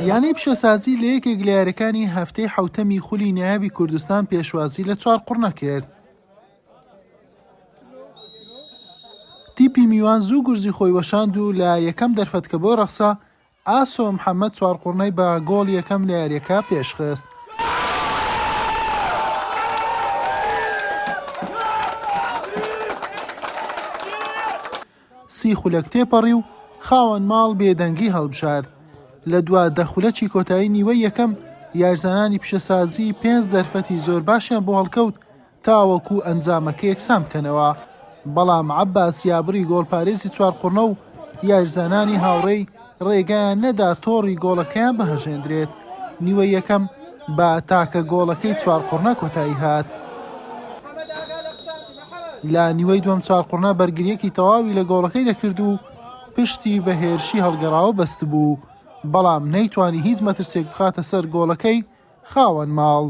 یانەی پیشەسازی لە یەکێک لە یاریەکانی هەفتەی حوتەمی خولی نایابی کوردستان پێشوازی لە چوار قڕنە کرد. تیپی میوان زوو گورزی خۆی وەشاند و لە یەکەم دەرفەتکە بۆ ڕەخسا ئاسۆ محەممەد چوار قڕنەی بە گۆڵ یەکەم لە یاریەکە پێشخست. سی خولەک تێپەڕی و خاوەن ماڵ بێدەنگی هەڵبژارد. لە دوا دە خولەکی کۆتایی نیوەی یەکەم، یارزانانی پیشەسازی پێنج دەرفەتی زۆر باشیان بۆ هەڵکەوت تاوەکو ئەنجامەکە یەکسان بکەنەوە، بەڵام عەباس یابری گۆڵپارێزی چوارقوڕنە و یارزانانی هاوڕێی، رێگایان نەدا تۆڕی گۆڵەکەیان بهەژێندرێت، نیوەی یەکەم بە تاکە گۆڵەکەی چوارقوڕنە کۆتاییهات، لە نیوەی دووەم چوارقوڕنە بەرگرییەکی تەواوی لە گۆڵەکەی دەکرد و پشتی بە هێرشی هەڵگەڕاوە بەستبوو، بەڵام نەیتوانی هیچ مەترسێک بخاتە سەر گۆڵەکەی، خاوەن ماڵ،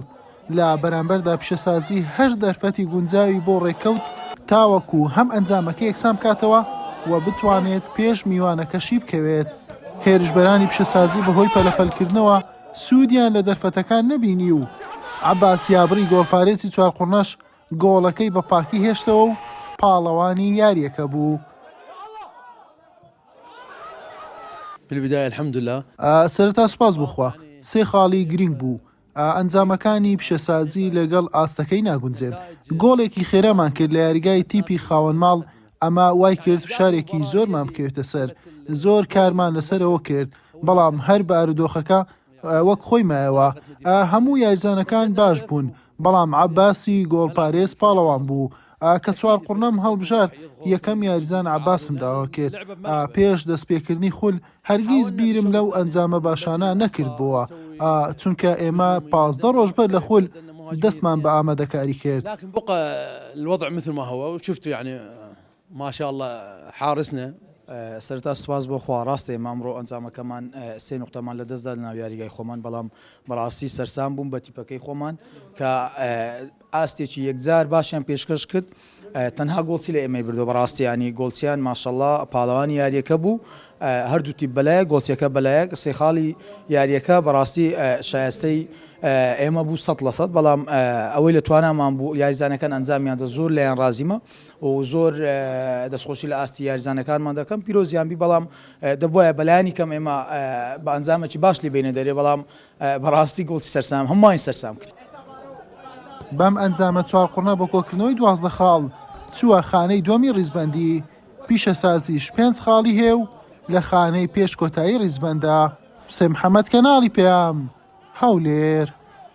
لە بەرامبەردا پیشەسازی هەشت دەرفەتی گونجاوی بۆ ڕێککەوت، تاوەکو هەم ئەنجامەکە یەکسان بکاتەوە و بتوانێت پێش میوانەکە شیبکەوێت، هێرشبەرانی پیشەسازی بەهۆی پەلەپەلکردنەوە سوودیان لە دەرفەتەکان نەبینی و عەباس یابڕی گۆڵپارێزی چوارقوڕنەش گۆڵەکەی بە پاکی هێشتەوە و پاڵەوانی یارییەکە بوو. فی البدایە الحمدللە. سەرەتا سوپاس بۆ خوا سێ خاڵی گرینگ بوو ئەنجامەکانی پیشەسازی لەگەڵ ئاستەکەی ناگونجێن گۆڵێکی خێرامان کرد لە یاریگای تیپی خاوەن ماڵ ئەمە وایکرد فشارێکی زۆرمان بکەوێتە سەر زۆر کارمان لەسەرەوە کرد بەڵام هەر بارودۆخەکە وەک خۆی مایەوە هەموو یاریزانەکان باش بوون بەڵام عەباسی گۆڵپارێز پاڵەوان بوو ئا کە چوار قوڕنەم هەڵبژارد یەکەم یاریزان عەباسم داوا کرد ئا پێش دەستپێکردنی خول هەرگیز بیرم لەو ئەنجامە باشانە نەکردبۆوە ئا چونکە ئێمە پازدە ڕۆژ بەر لە خول دەستمان بە ئامادەکاری کرد. ماشاءاللە حارسنە. سەرەتا سوپاس بۆ خوا ڕاستە ئێمە ئەمڕۆ ئەنجامەکەمان سێ نوقتەمان لەدەستدا لەناو یاریگای خۆمان بەڵام بەڕاستی سەرسام بووم بە تیپەکەی خۆمان کە ئاستێکی یەکجار باشیان پێشکەش کرد تەنها گۆڵچی لە ئێمەی بردەوە بەڕاستی یانی گۆڵچیان ماشەڵڵا پاڵەوانی یاریەکە بوو هەردوو تیپ بەلایە گۆڵچیەکە بەلایەک سێ خاڵی یاریەکە بەڕاستی شایستەی ئێمە بوو سە لە سەد بەڵام ئەوەی لە توانامان بوو یاریزانەکان ئەنجامیان دە زۆر لایەن ڕازیمە زۆر دەستخۆشی لە ئاستی یاریزانەکانمان دەکەم پیرۆزیان بی بەڵام دەبواە بەلایانی کەم ئێمە بە ئەنجامەکی باش لی بینە دەرێ بەڵام بەڕاستی گوڵی سەرسام هەمووانی سەرسام کرد بەم ئەنجامە چوار قڕنە بۆ کۆکردنەوەی دوازدە خاڵ چووە خانەی دووەمی ڕیزبەندی پیشەسازیش پێنج خاڵی هەیە و لە خانەی پێش کۆتایی ڕیزبەندە. حوسێن محەمەد کەناڵی پەیام، هەولێر.